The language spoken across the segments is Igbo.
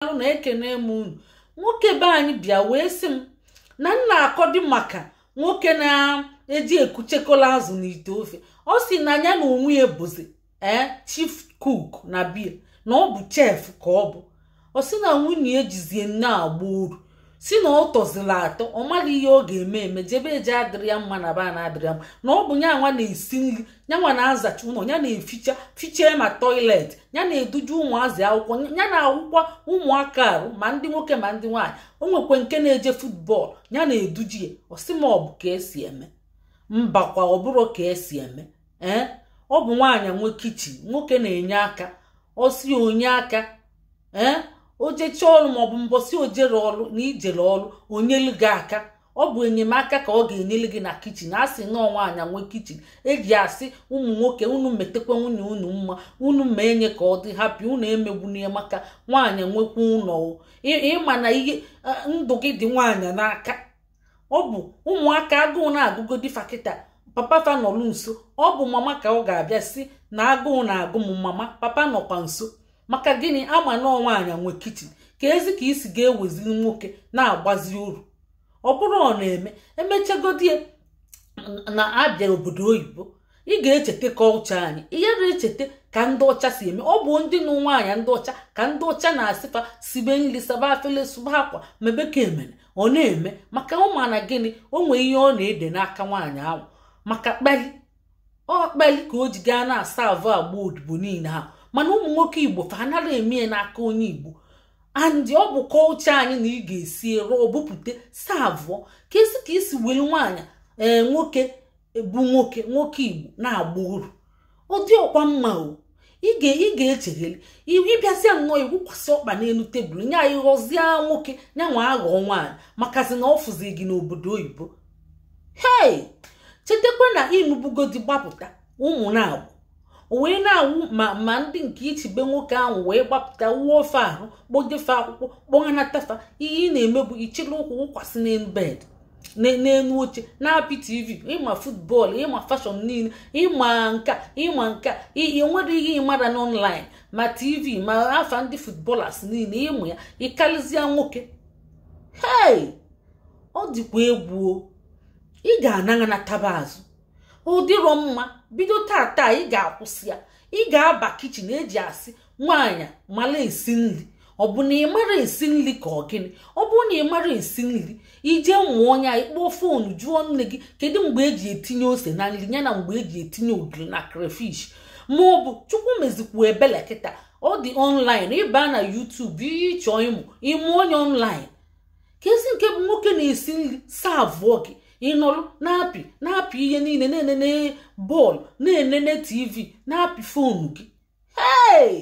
daalụ na ekene m unu nwoke be anyị bịa wee sị m na m na-akọdị maka nwoke na-eji eku echekọla azụ n'ite ofe ọ sị na ya na onwe ya bụzi ee chief cook na be ya na ọ bụ chef ka ọ bụ ọ sị na nwunye ya jizi nya agba oru sị na ọ tọzila atọ ọ maghị ihe ọ ga-eme eme jebe eje adịrọ ya mma naba ana adịrọ ya mma na ọ bụ ya nwa na-esi nri ya nwa na-azacha ụlọ ya na-eficha fichee ma toilet ya na-eduje ụmụazị akwụkwọ ya na-awụkwa ụmụaka arụ ma ndị nwoke ma ndị nwaanyị o nwekwe nke na-eje futbọọlụ ya na-eduje ya ọ sị ma ọ bụ ka esi eme mbakwa ọ bụrụ ka esi eme ee ọ bụ nwaanyị nwe kichin nwoke na-enye aka ọ sị o nye aka ee eh? o jechaa ọrụ maọbụ mbọsị o jere ọrụ na i jere ọrụ o nyelu gị aka ọ bụ enyemaka ka ọ ga-enyere gị na kichin a sị na nwaanyị nwe kichin eji asị ụmụ nwoke unu metekwa nwunye unu mma unu mee nya ka ọ dị happy unu emegbuna ya maka nwaanyị nwekwa ụlọ ị ma na ihe ndụ gị dị nwaanyị n'aka ọ bụ ụmụaka agụụ na-agụgodi fa kịta papa fa nọlụ nso ọ bụ mama ka ọ ga-abịa sị na agụụ na-agụ m mama papa nọkwa nso maka gịnị a ma na ọọ nwaanyị nwe kichin keezi ka i si ga-eweziri nwoke na-agbazi oru ọ bụrụ ọ na-eme emechagodi na a bịa obodo oyibo ị ga-echeta kọlcha anyị ihe na-echeta ka ndị ọcha si eme ọ bụ ndị nụ nwaanyị ndị ọcha ka ndị ọcha na-asị fa sibe nri saba afele sụba akwa mebe ka emere ọ na-eme maka ọ ma na gịnị o nwee ihe ọ na-ede n'aka nwaanyị ahụ maka kpali ọ kpali ka o ji gaa na-asavụ agba odibo niile ahụ mana ụmụ nwoke igbo fa anaghị eme ya n'aka onye igbo and ọ bụ kọlcha anyị na ị ga-esi rụọ bupụta savụọ keezi ka i si welu nwaanyị ee eh, nwoke bụ nwoke nwoke igbo na-agba oru ọ dịrọkwa mma o ị ga-echegheli ị bịazịa nnọọ ị wụkwasị ọkpa n'elu tebụl nya ị ghọzie nwoke ya nwa aghọọ nwaanyị makazi na ọ fụzi gị n'obodo oyibo hei chetakwa na ịnụbugodi gbapụta ụmụ na-agbụ wee na-awụ ma ndị nke ichibe nwoke ahụ wee gbapụta wụọ fa arụ kpọje fa akwụkwọ kpọghanata fa ihe ị na-eme bụ ị chịrị ụkwụ wụkwasị n'elu bed n'elu oche na-apị tv ị ma futbọọlụ ị ma fashọn niile ị ma nka ị ma nka enwerọ ihe ị marọ n'ọnlaịn ma tv ma afa ndị futbọlas niile ị ma ya ị karịzịa nwoke hei ọ dịkwa egwu ị ga-anọ na taba azụ ọ dịrọ mma bido taa taa ị ga-akwụsị ya ị ga-aba kichin eji asị nwaanyị mara esi nri ọ bụ na ị mara esi nri ka ọ gịnị ọ bụrụ na ị mara esi nri ije mụọ nya ịkpọọ foonu jụọ nne gị kedu mgbe eji etinye ose na nri ya na mgbe eji etinye ogiri na crayfish ma ọ bụ chukwu mezikwu ebele kịta ọ dị ọnlaịn ịba na yutubu ihe ịchọ ịmụ ịmụọ nya ọnlaịn kezi nke bụ nwoke na-esi nri saavụọ gị ịnọrụ na-apị na-apị ihe niile na-enene bọọlụ na-enene tv na-apị fonu gị hei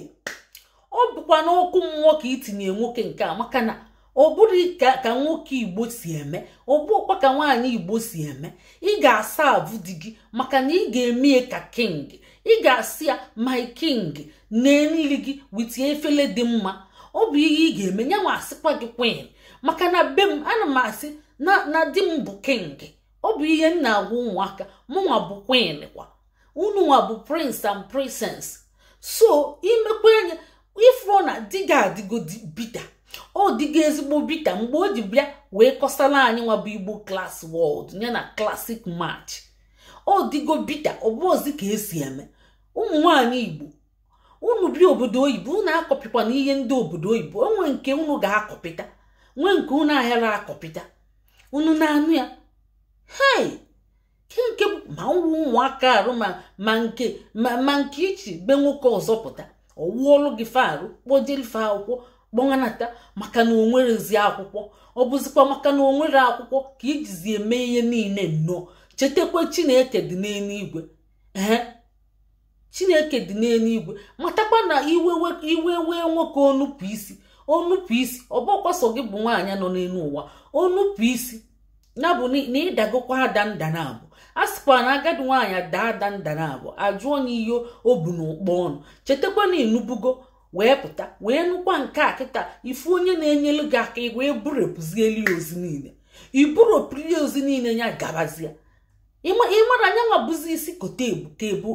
ọ bụkwa n'ọkụ mmụọ ka itinye nwoke nke a maka na ọ bụrụ ka nwoke igbo si eme ọ bụkwa ka nwaanyị igbo si eme ị ga-asaavụ di gị maka na ị ga-eme ka king ị ga-asị ya my king nee nri gị wit efele dị mma ọ bụ ihe ị ga-eme ya nwa asịkwa gị queen maka na be m ana m asị na di m bụ king ọ bụ ihe m na-agwa ụmụaka mụnwa bụ queen kwa unu nwa bụ prince and princess so imekwa anya ifuru na di gị adịgo bita ọ dịgo ezigbo bita mgbe o ji bịa wee kọsara anyị nwa bụ igbo klas world ya na klasik match ọ dịgo bita ọ bụzi ka esi eme ụmụ nwaanyị igbo unu bi obodo oyibo unu akọpịkwana ihe ndị obodo oyibo o nwe nke unu ga-akọpịta nwee nke unu ahịara akọpịta unu na-anụ ya hei ke nke ma ụmụ ụmụaka arụ ma nke ma nke ị chị be nwoke ọzọ pụta ọ wụọlụ gị fa arụ kpọjeli fa akwụkwọ kpọnata maka na o nwerezi akwụkwọ ọ bụzikwa maka na o nwere akwụkwọ ka ijizi eme ihe niile nnọọ chetakwa chineke dị n'eluigwe ee chineke dị n'eluigwe matakwa na iwe wee nwoke o nupụ isi o nupụ isi ọ bụkwa sọ gị bụ nwaanyị nọ n'elu ụwa o nupụ isi ya bụ na ịdagokwa ada nda naabọ a sịkwa na agadi nwaanyị daa ada nda naabọ ajụọ nya ihe o bu n'ụkpa ọnụ chetakwa na ịnụbugo wee pụta wee nụkwa nke a kịta ifu onye na-enyelu gị aka wee burepụzieli ozi niile iburopụli ozi niile ya gabazia ịmara nya nwa bụzi isi kote ebu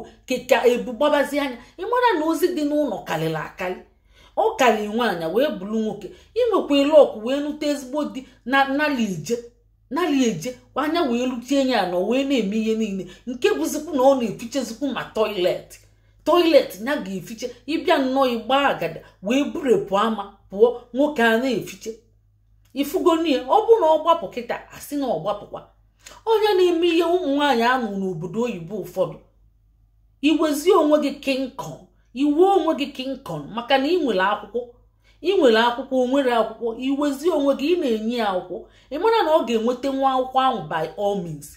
ka ebu gbabazia nya ịmara na ozi dị n'ụlọ karịrị akarị ọ kali nwaanyị wee bụrụ nwoke inwekwa lọkụ wee nụta ezigbo di na nali ije nali eje anya wee luchie anya ya na o wee na-eme ihe niile nke bụzikwu na ọ na-efichezikwu ma toilet toilet ya ga-efiche ịbịa nnọọ ịgba agada wee burepụ ama pụọ nwoke a na-efiche ifugonie ọ bụ na ọ gbapụ kịta asị na ọ gbapụkwa onye na-eme ihe ụmụ nwaanyị a nọ n'obodo oyibo ụfọdụ iwezie onwe gị King Kong iwe onwe gị King Kong maka na ị nwere akwụkwọ ị nwere akwụkwọ o nwere akwụkwọ iwezi onwe gị ị na-enye ya akwụkwọ ị mara na ọ ga-enweta nwa akwụkwọ ahụ by all means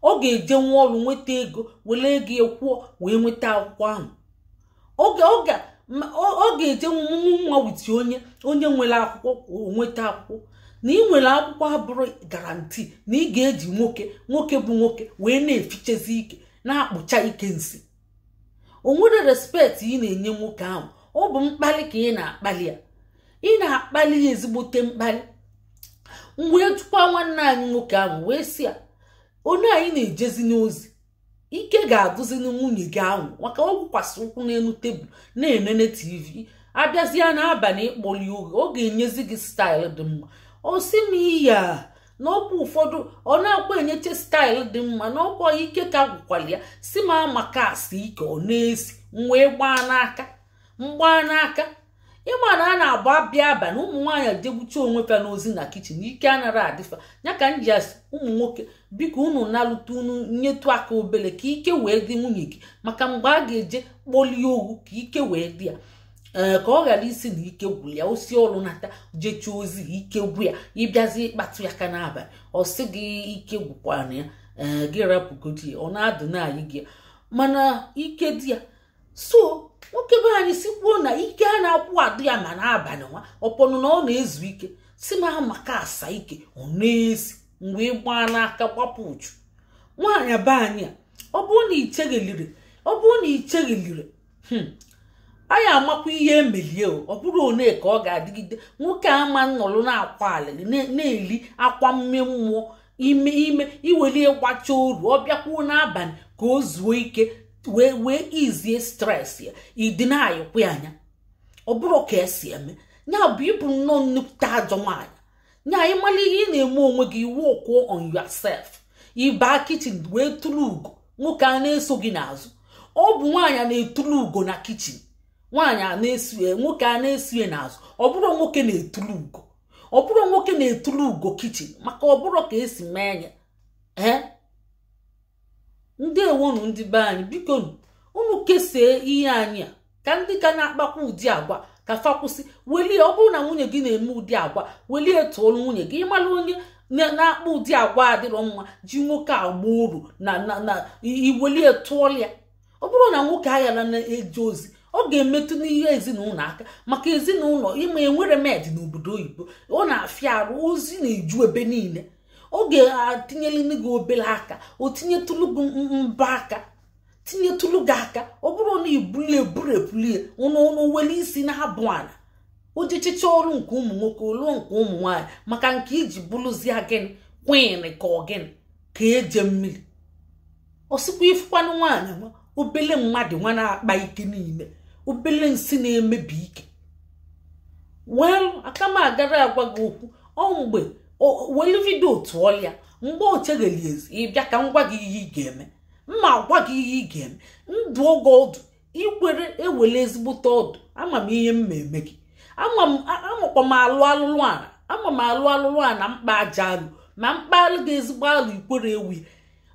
ọ ga-eje nwa ọrụ nweta ego were ego ya kwụọ wee nweta akwụkwọ ahụ oge oge ọ ga-eje nwa witi onye onye nwere akwụkwọ nweta akwụkwọ na ị nwere akwụkwọ abụrọ guarantee na ị ga-eji nwoke nwoke bụ nwoke wee na-efichezi ike na-akpụcha ike nsị o nwere respect ị na-enye nwoke ahụ ọ bụ mkpali ka ị na-akpali ya ị na-akpali ya ezigbote mkpali m wee jụkwa nwanne anyị nwoke ahụ wee sị ya one a ị na-ejezi n'ozi ike ga-adụzi na nwunye gị ahụ maka ọ gwụkwasị ụkwụ n'elu tebụl na-enene tv a bịazịa n'abalị ikpoli oge ọ ga-enyezi gị style dị mma ọ sị m iya na ọ kwa ụfọdụ ọ naakwa enyeche style dị mma na ọ kwa ike ka gwụkwara ya sị m Amaka asị ike ọ na-esi m wee gbaa n'aka m gbaa n'aka ị ma na a na-agba abịa abalị ụmụ nwaanyị jegbucha onwe fa n'ozi na kitchen ike anarọ adị fa ya ka m ji asị ụmụ nwoke biko unu nalụta unu nyetụ aka obele ka ike wee dị nwunye gị maka mgbe a ga-eje kpolie ogwu ka ike wee dị ya ee ka ọ ghara ịsị na ike gwụrụ ya o si ọrụ nata jecha ozi ike gwụ ya ị bịazi ịkpatụ ya aka n'abalị ọ sị gị ike gwụkwana ya ee gị rapụgodi ya ọ na-adụ na-ayị gị mana ike dị ya so nwoke be anyị si kwuo na ike anaakwa adị ya ma n'abalị nwa upon na ọ na-ezu ike sị m Amaka asa ike ọ na-esi m wee gbaa n'aka gbapụ uchu nwaanyị be anyị a ọ bụrụ na i cheghelirọ ọ bụrụ na i cheghelirọ hmm, anyị amakwa ihe e melie ọ bụrụ one ka ọ ga-adịgide nwoke ama nọrọ na-akwa alịlị na-eli akwa mme mmụọ ime ime iwelie gbacha oru ọ bịakwuo n'abalị ka o zuo ike wee wee izie stress ya ịdị na-ayịkwa anya ọ bụrọ ka e si eme ya bụ ị bụ nnọọ nnukwute ajọ nwaanyị nya ị mara ihe ị na-eme onwe gị ị work on yourself ị baa kitchen wee turu ugo nwoke a na-eso gị n'azụ ọ bụ nwaanyị na-etulu ugo na kitchen nwaanyị a na-eso ya nwoke a na-eso ya n'azụ ọ bụrọ nwoke na-etulu ugo ọ bụrọ nwoke na-etulu ugo kitchen maka ọ bụrọ ka e si eme nya ee ndeewonụ ndị be anyị biko unu kesee ihe anyị a ka ndị ka na-akpakwa ụdị agwa ka fa kwụsị welie ọ bụrụ na nwunye gị na-eme ụdị agwa welie tụọrọ nwunye gị ị mara onye na-akpa ụdị agwa adịrọ mma ji nwoke agba oru na na iwelie tụọrọ ya ọ bụrụ na nwoke aghara na-eje ozi ọ ga-emetụ n'ihe ezinụlọ aka maka ezinụlọ ịma enwere maid n'obodo oyibo ọ na-afịa arụ ozi na-eju ebe niile ọ ga-etinyere nụ gị obere aka o tinyetụlụ gị mba aka tinyetụlụ gị aka ọ bụrụ na ibulie eburepulie ụnụ were isi na-abụ ala o jechicha ọrụ nke ụmụ nwoke ọ lụọ nke ụmụ nwaanyị maka nke i ji bụrụzie gịnị queen ka ọ gịnị ka eje mmiri ọ sịkwa ị fụkwanụ nwaanyị nwa obele mmadụ nwa na-akpa ike niile obele nsị na-emebi ike welu aka m agara agwa gị okwu ọ mgbe welu video otu ọlịa mgbe o chegheli ezi ị bịa ka m gwa gị ihe ị ga-eme m ma-agwa gị ihe ị ga-eme m dụọ gị ọdụ i kwere ewere ezigbote ọdụ ama m ihe m ma-eme gị amakwa m alụ alụlụ ala ama m alụ alụlụ ana m kpaa ajọ alụ ma m kpalụ gị ezigbo alụ ikwere ewu ya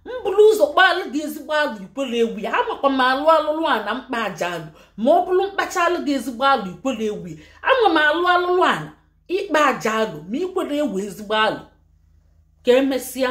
m bụrụ ụzọ kpalụ gị ezigbo alụ ikwere ewu ya amakwa m alụ alụlụ ana m kpaa ajọ alụ ma ọ bụrụ m kpachaalụ gị ezigbo alụ ikwere ewu ya ama m alụ alụlụ ana ịkpa ajọ alụ ma i kwere ewe ezigbo alụ ka emesịa